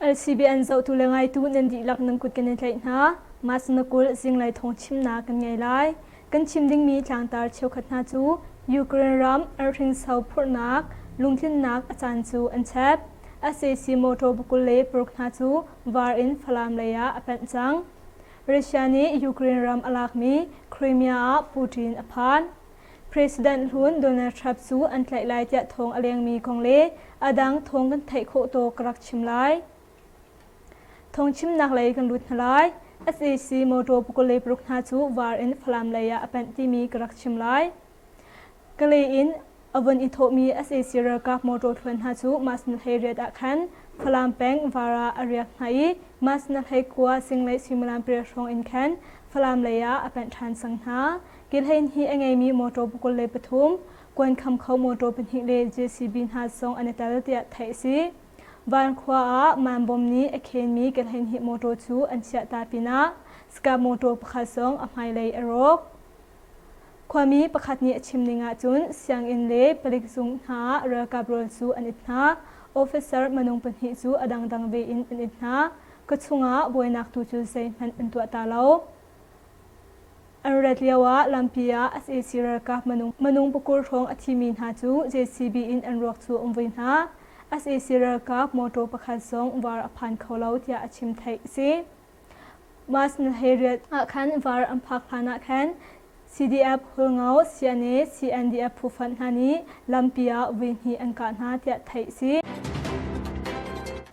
LCB an zohtu le ngaitu nan dihlak nan kut kan i tlaih hna. Mas na kul zinglei thawng chimnak kan ngei lai. Kan chim dingmi tlangtar cheukhat hna cu Ukraine ram arhringso phurhnak, lungtlinnak a caan cu an chep. SAC motor bakul le paruk hna cu var in Falam lei ah a panh cang. Russia nih Ukraine ram a lakmi Crimea ah Putin a phan. President hlun Donald Trump cu an tlaih lai tiah thawng a lengmi kong le a dang thawng kan theih khawh tawk ka rak chim lai. Thawngchimnak lei kan lut hna lai. SAC motor pukawlei paruk hna cu var in Falam lei ah a panh timi ka rak chim lai. Kalay in a vun i thawhmi SAC ralkap motor thluan hna cu Masnahlei riat ah khan Falam peng var ah a riak hna i Masnahlei khua singlei suimilam pariat hrawng in khan Falam lei ah a panh ṭhan cang hna. Kihlein hi a ngeimi motor pukul le pathum, kuan kham kho motor pahnih le JCB hna song an i tel tiah theih a si. Van khua ah man bom nih a khenmi kihlein hi motor cu an chiah ta pinah Scup motor pakhat song a hmailei a rawk. Khuami pakhat nih a chim ning ahcun sianginn le palik zung hna ah ralkap rawl cu an it hna. Officer minung pahnih cu a dangdang ve in an it hna. Ka chungah buainak tu cu zeihmanh an tuah ta lo. An rat lioah lampi ah sac ralkap minung pakul hrawng a thimi hna cu JCB in an ruak cu um ve hna. sac ralkap motor pakhat zong var a phan kho lo tiah a chim theih a si. Mas nahariat ah khan var an phak hlanah khan CDF Hulngo, CNA, CNDF phuffan hna nih lampi ah veihnih an kah hna tiah theih a si.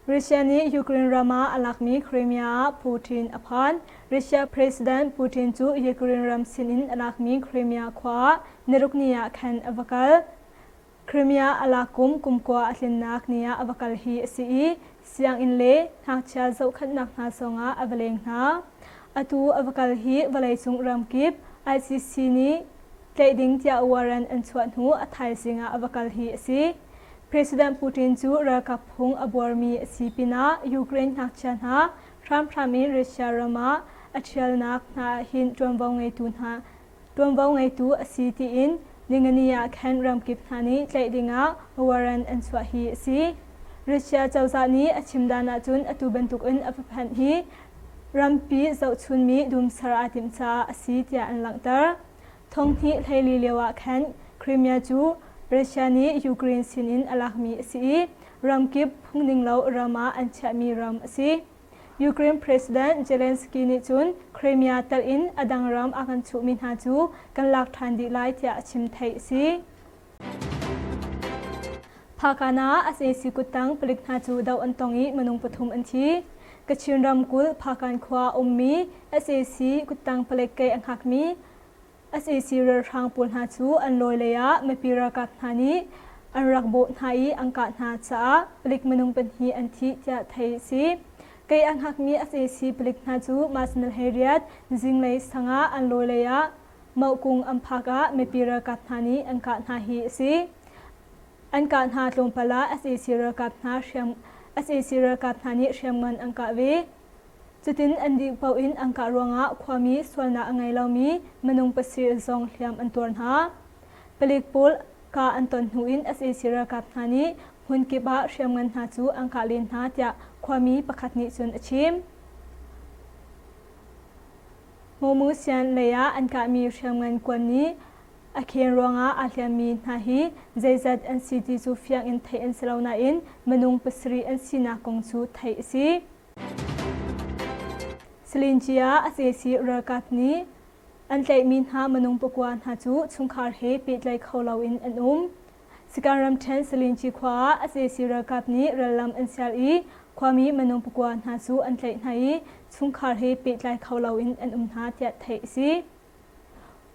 Russia nih Ukraine ram ah a lakmi Crimea ah Putin a phan. Russia President Putin cu Ukraine ram sinin a lakmi Crimea khua ah nirukni ah khan a va kal. Crimea a lak kum kumkua a tlinnak ni ah a va kal hi a si i sianginn le ngakchia zohkhenhnak hna zongah a va leng hna. Atu a va kal hi vawleicung ramkip ICC nih tlaih ding tiah warrant an chuah hnu a thaizing ah a va kal hi a si. President Putin cu ralkap phung a buarmi a si pinah Ukraine ngakchia hna hramhram in Russia ram ah a ṭhialnak hna ah hin ṭuanvo ngeitu hna ṭuanvo ngeitu a si tiin Ningani ah khan ramkip hna nih tlaih dingah warrant an chuah hi a si. Russia cozah nih a chim dan ahcun atu bantukin a paphanh hi rampi zohchunmi dum ser aa timh caah a si tiah an langhter. Thonghnih hleili lioah khan Crimea cu Russia nih Ukraine sinin a lakmi a si i ramkip phungninglo ram ah an chiahmi ram a si. Ukraine President Zelensky nih cun Crimea telh in a dang ram a kan chuhmi hna cu kan lak ṭhan dih lai tiah a chim theih a si. Phakana ah a sesi kuttang palik hna cu doh an tong i minung pathum an thi. Kachin ramkulh Phakan khua a ummi SAC kuttang palek kei a hngakmi SAC ralhrang pawl hna cu an lawi lei ah mipi ralkap hna nih an rak bawh hna i an kah hna caah palik minung pahnih an thi tiah theih a si. Kei a hngakmi SAC palik hna cu Mas Nal He Riat zinglei sang ah an lawi lei ah Mohkung an phak ah mipi ralkap hna nih an kah hna hi a si. An kah hna tlawmpal ah sac ralkap hna hriam sac ralkap hna nih hriamngan an kah ve. Cutin an dih paoh in an kah ruangah khuami sualnak a ngei lomi minung pasir zong hliam an tuar hna. Palik pawl ka an ton hnu in sac ralkap hna nih hmun kip ah hriamngan hna cu an kah len hna tiah khuami pakhat nih cun a chim. Momu Sian lei ah an kahmi hriamngan kuan nih a khen ruangah aa hliammi hna hi zeizat an si ti cu fiang in theih an si lo nain minung pasarih an sinak kong cu theih a si. Salinjia Asesi ralkap nih an tlaihmi hna minung pakua hna cu chungkhar he pehtlaih kho loin an um. Sikan ramṭhen Salinci khua ah sac ralkap nih rallam an sial i khuami minung pakua hna cu an tlaih hna i chungkhar he pehtlai kho loin an um hna tiah theih a si.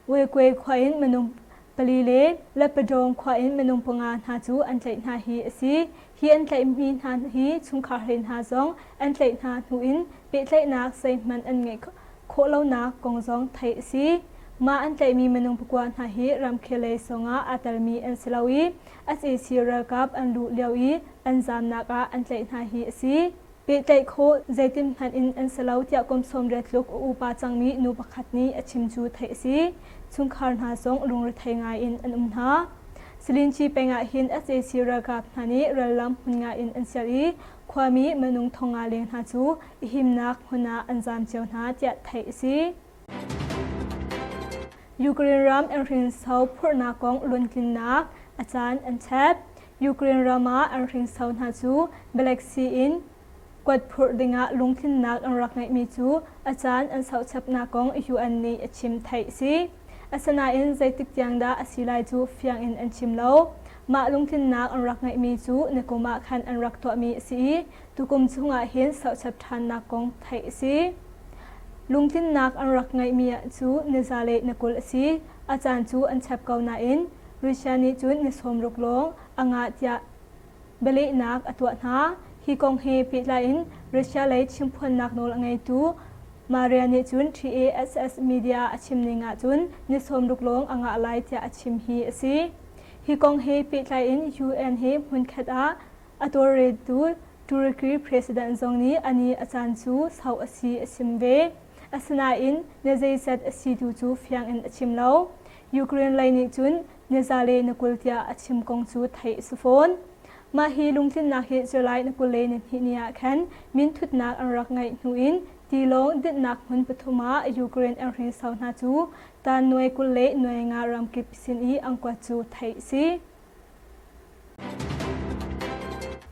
Uekwe khua in minung pali le Leppadawng khua in minung panga hna cu an tlaih hna hi a si. Hi an tlaihmi hna hi chungkhar hlei hna zong an tlaih hna hnu in pehtlaihnak zeihmanh an ngeih khawh lonak kong zong theih a si. Mah an tlaihmi minung pakua hna hi ramkhellei sawngah aa telmi an si lo i, sac ralkap an luh lio i an zaamnak ah an tlaih hna hi a si. Pehtlaih khawh zeitin hmanh in an si lo tiah kum sawm riat tluk a upa cangmi nu pakhat nih a chim cu theih a si. Chungkhar hna zong lungrethei ngai in an um hna. Salinci peng ah hin sac ralkap hna nih rallam hmun nga in an ser i khuami, minung thong nga leng hna cu a himnak hmun ah an zaam cio hna tiah theih a si. Ukraine ram an hrinso phurhnak kong luntlinnak a caan an chep. Ukraine ram ah an hrinso hna cu Black Sea in kuat phurh dingah lungtlinnak an rak ngeihmi cu a caan an sochapnak kong UN nih a chim theih si. Asinain zeitik tiang dah a si lai cu fiang in an chim lo. Mah lungtlinnak an rak ngeihmi cu na kum ah khan an rak tuahmi a si i Tukum chungah hin sochap ṭhannak kong theih a si. Lungtlinnak an rak ngeihmi ah cu na zale na kul a si, a caan cu an chep ko nain Russia nih cun na sawm ruk lawng a ngah tiah bialehnak a tuah hna. Hi kong he pehtlai in Russia lei chimphuannak nawl a ngeitu Maria nih cun TASS media a chim ning ahcun na sawm ruk lawng a ngah lai tiah a chim hi a si. Hi kong he pehtlai in UN he hmunkhat ah A tawlreltu Turkey president zong nih a ni a caan cu hloh a si a chim ve. Asinain na zeizat a si tu cu fiang in a chim lo. Ukraine lei nih cun na zale na kul tiah a chim kong cu theih a si fawn. Mah hi lungtlinnak he July na kul le ni hnih ni ah khan minthutnak an rak ngeih hnu in tilawng dinhnak hmun pathum ah Ukraine an hrinsau hna cu tan nuai kul le nuai nga ramkip sin i an kuat cu theih a si.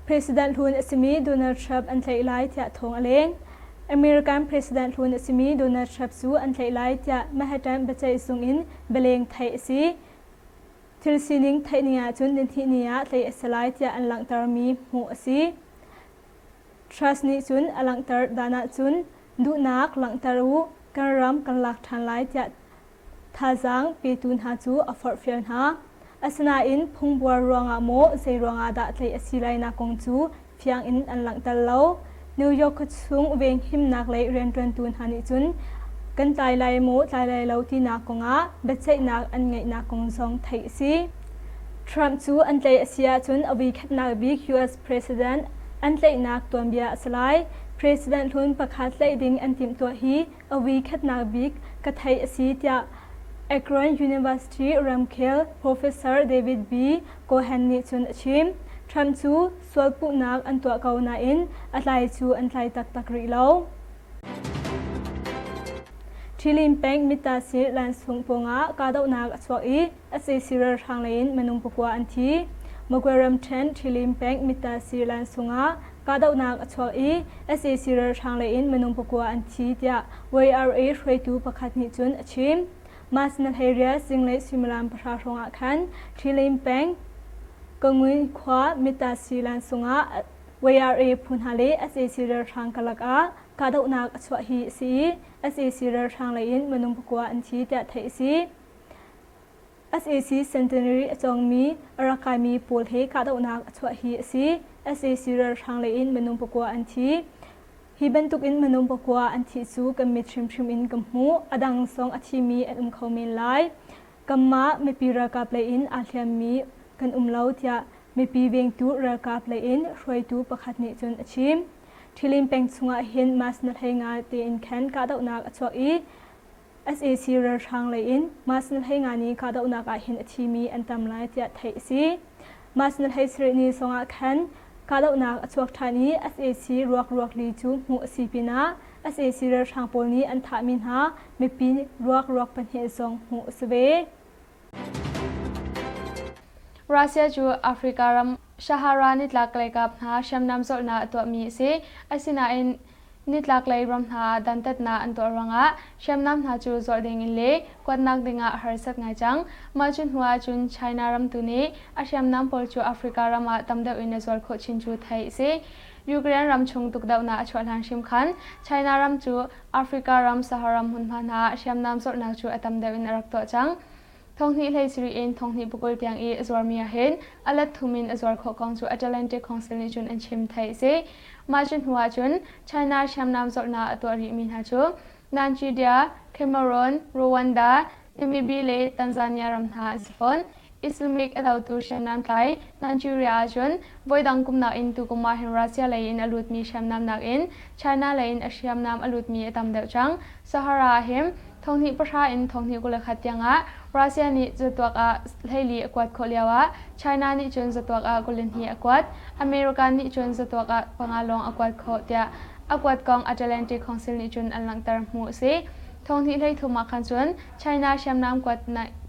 President hlun a simi Donald Trump an tlaih lai tiah thawng a leng. American President hlun a simi Donald Trump cu an tlaih lai tiah Manhattan biaceihsung in bialeng theih a si. Thil sining theih ni ahcun nihnih ni ah tlaih a si lai tiah an langhtermi hmuh a si. Truss nih cun a langhter dan ahcun duhnak langhter u, kan ram kan lak ṭhan lai tiah Thazaang petu hna cu a forhfial hna. Asinain phungbuar ruangah maw zeiruangah dah tlaih a si lainak kong cu fiang in an langhter lo. New York khuachung venghimnak lei rianṭuantu hna nih cun kan tlai lai maw tlai lai lo tinak kongah biaceihnak an ngeihnak kong zong theih a si. Trump cu an tlaih a si ahcun a voikhatnak bik US President an tlaihnak tuanbia a si lai. President hlun pakhat tlaih ding an timhtuah hi a weekhatnak bik ka theih a si tiah Akron University ramkhel Professor David B. Cohen nih cun a chim. Trump cu sual puhnak an tuah ko nain a tlai cu an tlai taktak rih lo. Ṭhilim peng mit-ta-sih lansung pawngah kahdohnak a chuak i SAC ralhrang leiin minung pakua an thi. Magway ramṭhen Ṭhilim peng Mita Sirilan sungah kahdohnak a chuak i sac ralhrang leiin minung pakua an thi tiah YRA hruaitu pakhat nih cun a chim. Mas Nalheria zinglei suimilam pahra hrawngah khan Ṭhilim peng Kangun khua Mita Sirilan sungah YRA phu hna le sac ralhrang karlak ah kahdohnak a chuah hi a si i sac ralhrang leiin minung pakua an thi tiah theih a si. sac centenary a cawngmi a rak kaimi pawl he kahdohnak a chuah hi a si sac ralhrang lei in minung pakua an thi hi bantukin minung pakua an thi cu kan mit hrimhrim in ka hmuh a dang sawng a thimi an um kho men lai kanmah mipi ralkap lei in aa hliammi kan um lo tiah mipi vengtu ralkap lei in hruaitu pakhat nih cun a chim ṭhilim peng chungah hin mas na hlei nga tein khan kahdohnak a chuak i sac ralhrang lei in Masnal Hlei Ngani kahdohnak ah hin a thimi an tam lai tiah theih a si. Masnal Hlei sarih ni sawngah khan kahdohnak a chuak ṭhan i sac ruakruak li cu hmuh a si pinah sac ralhrang pawl nih an thahmi hna mipi ruakruak pahnih zong hmuh a si ve. Russia cu Africa ram Sahara nitlaklei kap hna hriamnam zawrhnak a tuahmi a si. Asinain nitlaklei ram hna dantatnak an tuah ruangah hriamnam hna cu zawrh dingin le kuatnak dingah harsat ngai cang. Mah cu hnu ahcun China ram tu nih a hriamnam pawl cu Africa ram ah tam deuh in a zuar khawh chin cu theih a si. Ukraine ram chung tukdohnak a chuah hlan hrim khan China ram cu Africa ram Saharam hmunhma hna hriamnam zorhnak cu a tam deuh in a rak tuah cang. Thonghnih hlei siri in thonghnih pukul tiang i a zuarmi ahhin a let-thum in a zuar khawh kong cu Atlantic Council nih cun an chim theih a si. Mah cu hnu ahcun China hriamnam zorhnak a tuah rihmi hna cu Nanjidia, Cameroon, Rwanda, Namibia le Tanzania ram hna an si fawn. Islamic a dotu hriamnam tlai Nigeria ahcun voidang kumnak in tukum ah hin Russia lei in a lutmi hriamnam nakin China lei in a hriamnam a lutmi a tam deuh cang. Sahara ah hin thonghnih pahra in thonghnih kul le khat tiangah Russia nih zatuak ah hleili a kuat khawh lioah China nih cun zatuak ah kul le hnih a kuat. America nih cun zatuak ah panga lawng a kuat khawh tiah a kuatkong Atlantic Council nih cun an langhter hmu a si. Thawhnih hleithum ah khan cun China hriamnam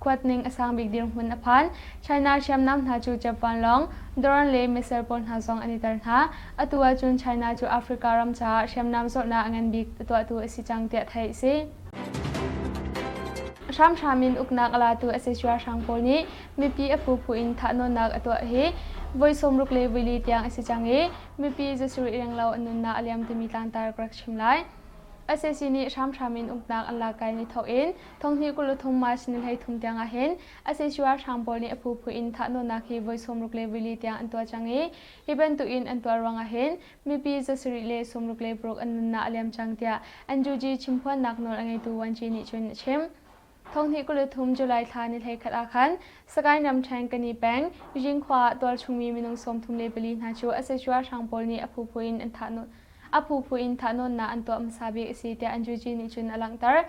kuatning a sang bik dirhmun a phan. China hriamnam hna cu Jap vanlawng, drone le missile pawl hna zong an i tel hna. Atu ahcun China cu Africa ram caah hriamnam zawtnak a ngan bik a tuahtu a si cang tiah theih a si. Hramhram in uknak a latu a si ralhrang pawl nih mipi a phuphu in thahnawnnak a tuah hi voi sawmruk le voili tiang a si cang i mipi zasarih renglo an nunnak a liam timi tlangtar ka rak chim lai. SAC nih hramhram in uknak an lak kai ni thawk in thonghni kul le thum March ni hleithum tiang ahhin SAC ralhrang pawl nih a phuphu in thahnawnnak hi voi sawmruk le vili tiang an tuah cang i hi bantukin an tuah ruang ahhin mipi zasarih le sawmruk le paruk an nunnak a liam cang tiah NUG chimphuannak nawl a ngeitu Wan Ci nih cun a chim. Thonghnih kul le thum July thla nilei khat ah khan Sagaing ramṭhen Kani peng Zinkhua ah tualchungmi minung sawmthum le pali hna cu asatuahrang pawl nih a phuphu in an thahnawn a phuphu in thahnawnnak an tuah hmasa bik a si tiah an juji nih cun a langhter.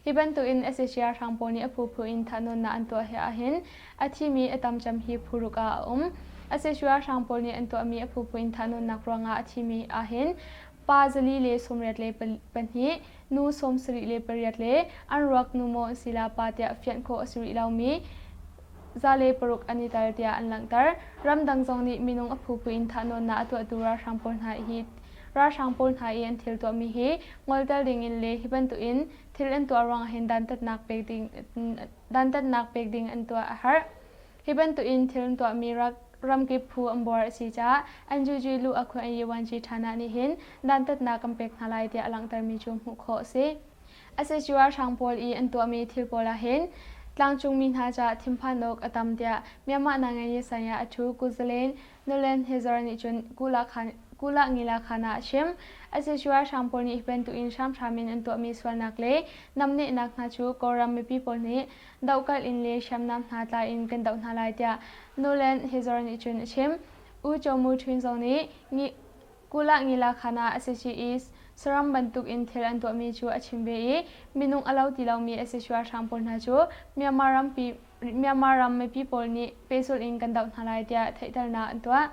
Hi bantukin asatuahrang pawl nih a phuphu in thahnawnnak an tuah hi ahhin a thimi a tamcam hi phuruk ah a um. Asatuahrang pawl nih an tuahmi a phuphu in thahnawnnak ruangah a thimi ahhin pa zali le sawmriat le pahnih, nu sawmsarih le pariat le an ruak nu maw sila pa tiah fianh khawh a si rih lomi zale paruk an i tel tiah an langhter. Ramdang zong nih minung a phuphu in thahnawnnak a tuahtu ralhrang pawl hna hi ralhrang pawl hna i an thil tuahmi hi ngoltel ding in le hi bantukin thil an tuah ruang hin dantatnak pek ding dantatnak pek ding an tuah a harh. Hi bantukin thil an tuahmi rak ramkip phu an buar a si caah NUG luh a khuai yuanci Thana nih hin dantatnak kan pek hna lai tiah a langhtermi cu hmuh khawh a si. SHUR hrang pawl i an tuahmi thil pawl ahhin tlangcungmi hna caah thinphan awk a tam tiah Myanmar Nangaye saya Athu Kuzalen Nolent Hezor nih cun Kula-Ngila-Khan ah a chim. SHUR hrang pawl nih hi bantukin hramhram in an tuahmi sualnak le namnehnak hna cu Kawlram mipi pawl nih dohkalh in le hriamnam hna tla in kan doh hna lai tiah Nolan Hezor nih cun a chim. U Chomu Ṭhwin zong nih Kula Ngilakana Associaes saram bantuk in thil an tuahmi cu a chim ve i minung a lo ti lomi associuahrang pawl hna cu Myanmar rampi Myanmar ram mipi pawl nih pehzulh in kan doh hna lai tiah theihternak an tuah.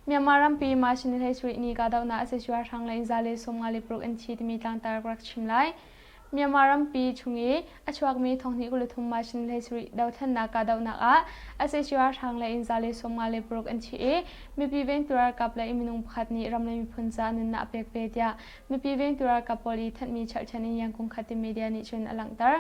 Myanmar rampi March ni le sarih ni kahdohnak associuahrang lei za le sawmnga le paruk an thi timi tlangtar ka rak chim lai. Myanmar rampi chung i a chuakmi thonghnih kul le thum mashin le sarih dothlennak kahdohnak ah SAC ralhrang le in za le sawmnga le paruk an thi i mipi vengtu ralkap le minung pakhat nih ram le miphun caah nunnak a pek ve tiah mipi vengtu ralkap pawl i thanhmi cherhchan in Yangkung Khatim media nih cun a langhter.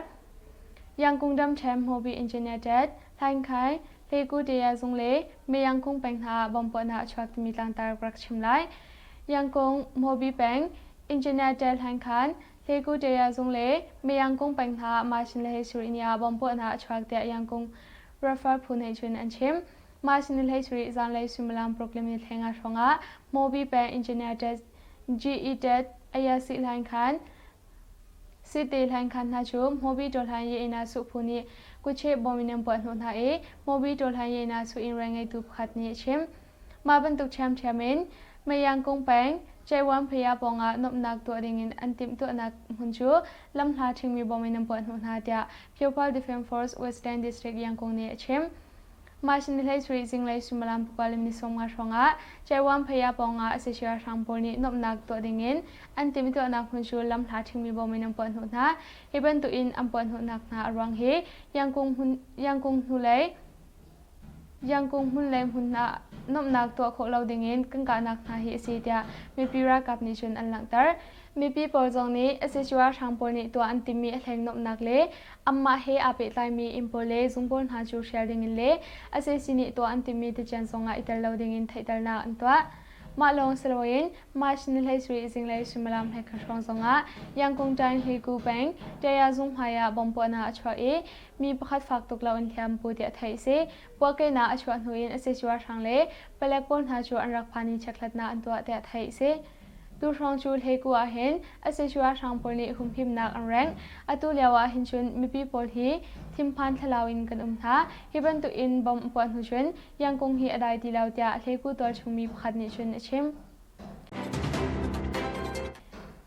Yangkung ramṭhen Mobi Internet, Hlankai, Hleku-Daya zung le Meyangkung peng hna ah bom puahnak a chuak timi tlangtar rak chim lai. Yangkung, Mobi peng, Internet, Hlankan, He Kuteya zung le Meyang kung peng hna Ma Sin le Hlei Sur inn ah bomb puahnak a chuak tiah Yang kung Rafa phu nih cun an chim. Ma Sin le Hlei Sur ih zanlei suimilam Brooklyn ni theng ah hrawngah Mobi peng engineer tet GE tet Ayasi Hlain Khan Site Hlain Khan hna cu Mobi Tawlhan ye ina su phu nih kucheh bomb in an puah hnawh hna i Mobi Tawlhan ye ina su inn reng ngeitu pakhat nih a chim. Mah bantuk ṭhiamṭhiam in Meyang kung peng Ceihwamphaya pawng ah nuamhnak tuah dingin an timhtuahnak hmun cu lamhla ṭhingmi bom in an puah hnawh hna, tiah Phiophal Defence Force Westland District Yangkung nih a chim. Mah Sindhleisuri zinglei suimilam panga le minute sawmnga hrawngah Ceihwamphaya pawng ah sac ralhrang pawl nih nuamhnak tuah dingin an timhtuahnak hmun cu lamhla ṭhingmi bom in an puah hnawh hna. Hi bantukin an puah hnawhnak hna a ruang hi Yangkung hnulei Yangkung hmun le hmun ah nuamhnak tuah khawh lo dingin kan kahnak hna hi a si tiah mipi ralkap nih cun an langhter. Mipi pawl zong nih sac ralhrang pawl nih tuah an timmi a hleng nuamhnak le anmah he aa pehtlaimi inn pawl le zung pawl hna cu hrial dingin le sac nih tuah an timmi tucian zongah i tel lo dingin theihternak an tuah. Mah lawng si loin March ni hleisarih zinglei suimilam hleikhat hrawng zongah Yangkung Tan Hliku peng Taya zung hmaiah bomb puahnak a chuah i mi pakhat fak tuk loin hliam pu tiah theih a si. Puahkehnak a chuah hnu in a casual hrang le palek pawl hna cu an rak phan i chekhlatnak an tuah tiah theih a si. Tu hrawng cu Hleku ah hin a casual hrang pawl nih humhimnak an rengh. Atu lio ah hin cun mipi pawl hi thinphan thlalau in kan um hna. Hi bantuk in bomb a puah hnu cun Yangkung hi a dai ti lo tiah Hleku tualchung mi pakhat nih cun a chim.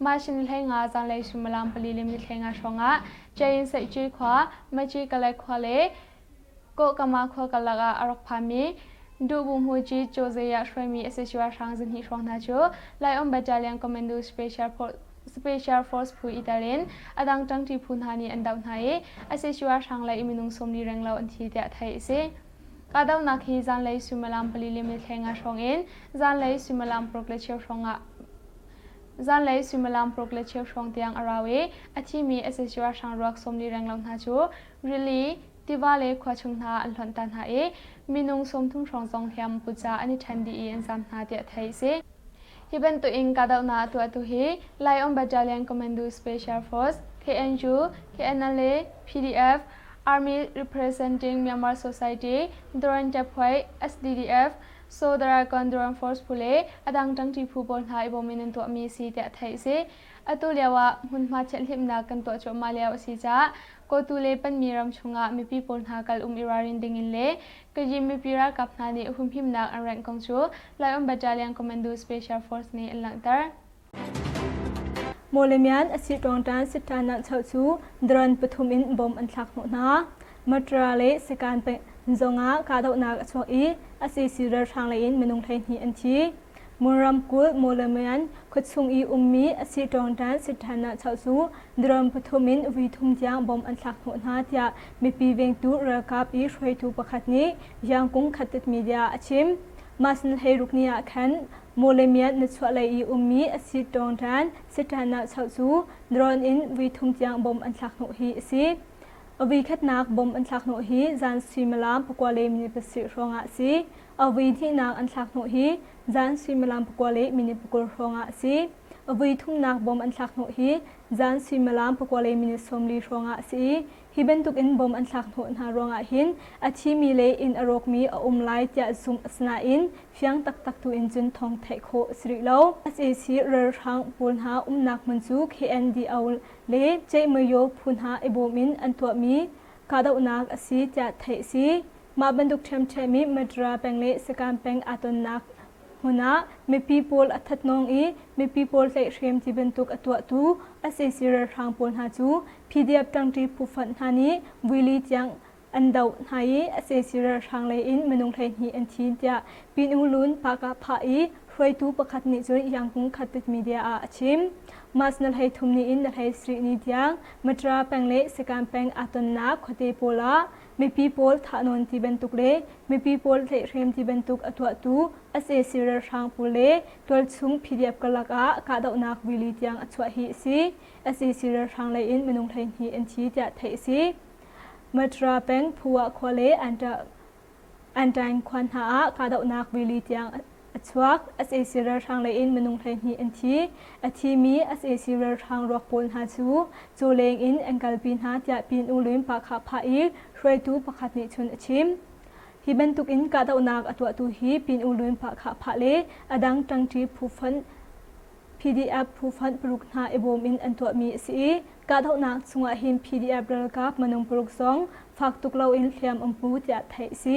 Mah hrim hlei nga zanlei suimilam pali le mithlei nga hrawngah Jain Saici khua, Maci Kalay khua le Kawkama khua karlak ah a rak phami Duhbunghu Ci Cawzei ah hruaimi SHY hrang zinhnih hrawng hna cu Lion Battalion Commando Special Force Special Force phu itar in a dang ṭangṭi phu hna nih an doh hna i SHY hrang lei minung sawmli renglo an thi tiah theih a si. Kahdohnak hi zanlei suimilam pali le mithlei nga hrawng in zanlei suimilam paruk le cheu hrawngah Zanlei suimilam paruk le cheu hrawng tiang a rau i a thimi SSU ralhrang ruak sawmli renglo hna cu rili, tiva le khua chung hna an hlonh ta hna i minung sawmthum hrawng zong hliam put caah an i ṭhen dih i an zam hna tiah theih a si. Hi bantuk in kahdohnak a tuahtu hi Lion Battalion Commando Special Force, KNU, KNLA, PDF, Army Representing Myanmar Society, Doron Ṭephuai, SDDF, So the Raikondram Force phu le a dang ṭangṭi phu pawl hna i bawm in an tuahmi a si tiah theih a si. Atu lio ah hmunhma chiathlimnak kan tuah cuahmah lio a si caah Kawtu le Panmi ram chungah mipi pawl hna kal um i ralrin dingin le Kajim mipi ralkap hna nih humhimnak an rengh kong cu Lion Battalion Commando Special Force nih an langhter. Maw le mian a si ṭawngṭan sitṭanak chau cu dron pathum in bom an thlak hnawh hna. Matra le sakan zong ah kahdohnak a chuak i a sisi ralhrang lei in minung hleihnih an thi. Mun ramkulh Maw le Mian khuachung i ummi a si ṭawngṭan sitṭhanak chau cu dron pathum in vui thum tiang bom an thlak hnawh hna tiah mipi vengtu ralkap i hruaitu pakhat nih Yangkung Khattit Media a chim. Masn hleiruk ni ah khan Mawlemiat na chuahlei i ummi a si ṭawngṭan Satan nahchuah cu drone in vui thum tiang bom an thlakhnawh hi a si. A vui khatnak bom an thlakhnawh hi zan suimilam pakua le minit pasarih hrawngah a si. A vui hnihnak an thlakhnawh hi zan suimilam pakua le minit pakul hrawngah a si. A vui thumnak bom an thlakhnawh hi zan suimilam pakua le minit sawmli hrawngah a si i Hi bantukin bom an thlak hnawh hna ruangah hin a thimi le inn a rawkmi a um lai tiah zumh, asinain fiang taktak tuin cun thawng theih khawh a si rih lo. sac ralhrang pawl hna umnak hmun cu KNDO le Cehmayo phu hna i bawm in an tuahmi kahdohnak a si tiah theih a si. Mah bantuk ṭhiamṭhiam i Madra peng le Sakang peng aa tonnak Hmun ah mipi pawl a thatnawng i mipi pawl tlaihhrem ti bantuk a tuahtu sac ralhrang pawl hna cu PDF ṭangṭi phuhfanh hna nih vuili tiang an doh hna i sac ralhrang lei in minung hleihnih an thi tiah Pinungulun Pahkah Phah i hruaitu pakhat nih cun Yangkung Khatit media ah a chim. Mas na hlei thum ni in na hlei sarih ni tiang Matra peng le Sakang peng aa tonnak khuate pawl ah Mipi pawl thahnawn ti bantuk le mipi pawl tleihhrem ti bantuk a tuahtu sac ralhrang pawl le tualchung PDF karlak ah kahdohnak rili tiang a chuah hi a si. sac ralhrang lei in minung hleihnih an thi tiah theih a si. Matra peng Phua khua le Antaing khua hna ah kahdohnak rili tiang A chuak sac ralhrang lei in minung hleihnih an thi. A thimi sac ralhrang ruak pawl hna cu cawleng in an kalpi hna tiah Pyin-U Luin-Pahkhah phah i hruaitu pakhat nih cun a chim. Hi bantuk in kahdohnak a tuahtu hi Pyin-U Luin-Pahkhah phah le a dang ṭangṭi phufonh PDF phufonh paruk hna i bawm in an tuahmi a si i kahdohnak chungah hin PDF ralkap minung paruk zong fak tuk loin hliam um pu tiah theih a si.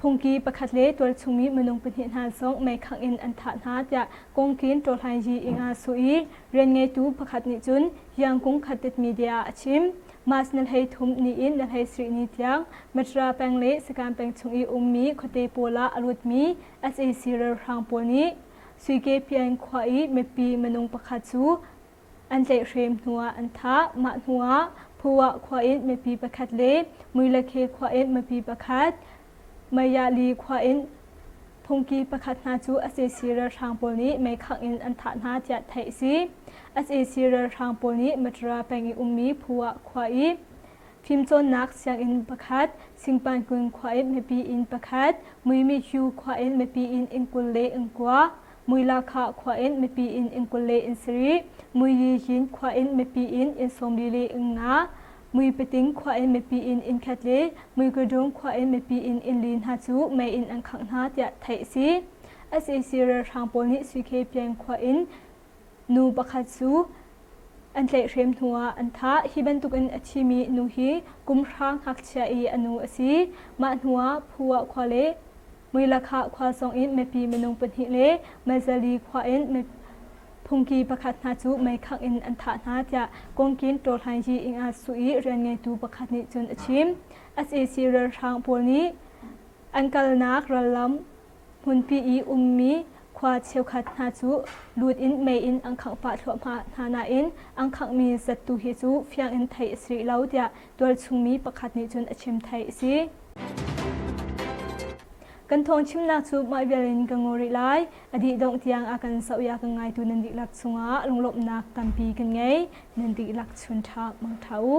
Phungki pakhat le tualchung mi minung pahnih hna zong meikhangh in an thah hna tiah kongkin Ṭawhlainyi ing ah su i rianngeitu pakhat nih cun Hliangkung Khattet media ah a chim. Mas na hlei thum ni in na hlei sarih ni tiang Matra peng le Sakan peng chung i ummi khuate pawl ah a rutmi sac ralhrang pawl nih Suike Pyaing khua i mipi minung pakhat cu an tlaihhrem hnuah an thah. Mah hnuah Phuah khua in mipi pakhat le Muilakhe khua in mipi pakhat, Mayali khua in phungki pakhat hna cu sac ralhrang pawl nih meikhangh in an thah hna tiah theih a si. sac ralhrang pawl nih Matra peng i ummi Phuah khua i fimcawnnak sianginn pakhat, Singpankun khua in mipi inn pakhat, Muimihyu khua in mipi inn inn kul le inn kua, Muilakha khua in mipi in inn kul le in sarih, Muyihin khua in mipi in inn sawmli le nga, Muipating khua in mipi in inn khat le Muikadung khua in mipi in inn li hna cu mei in an khangh hna tiah theih a si. SAC ralhrang pawl nih Suikhe peng khua in nu pakhat cu an tlaihhrem hnu ah an thah. Hi bantukin a thimi nu hi kum hra ngakchia i a nu a si. Mah hnuah Phua khua le Muilakhah khua sawng in mipi minung pahnih le Mazali khua in phungki pakhat hna cu meikhak in an thah hna tiah Kongkin Tawhlaingyi Inga Su i rianngeitu pakhat nih cun a chim. sac ralhrang pawl nih an kalnak rallam hmunpi i ummi khua cheukhat hna cu lut in mei in an khangh pah thluahmah hna nain an khanghmi zattu hi cu fiang in theih a si rih lo tiah tualchungmi pakhat nih cun a chim thai a si. Kan thawng chimnak cu mah vial in ka ngaw rih lai. A dih dongh tiang a kan sauh ya kan ngaitu nan diklak chungah lunglawmhnak tampi kan ngei. Nan diklak chun ṭha mang ṭha u.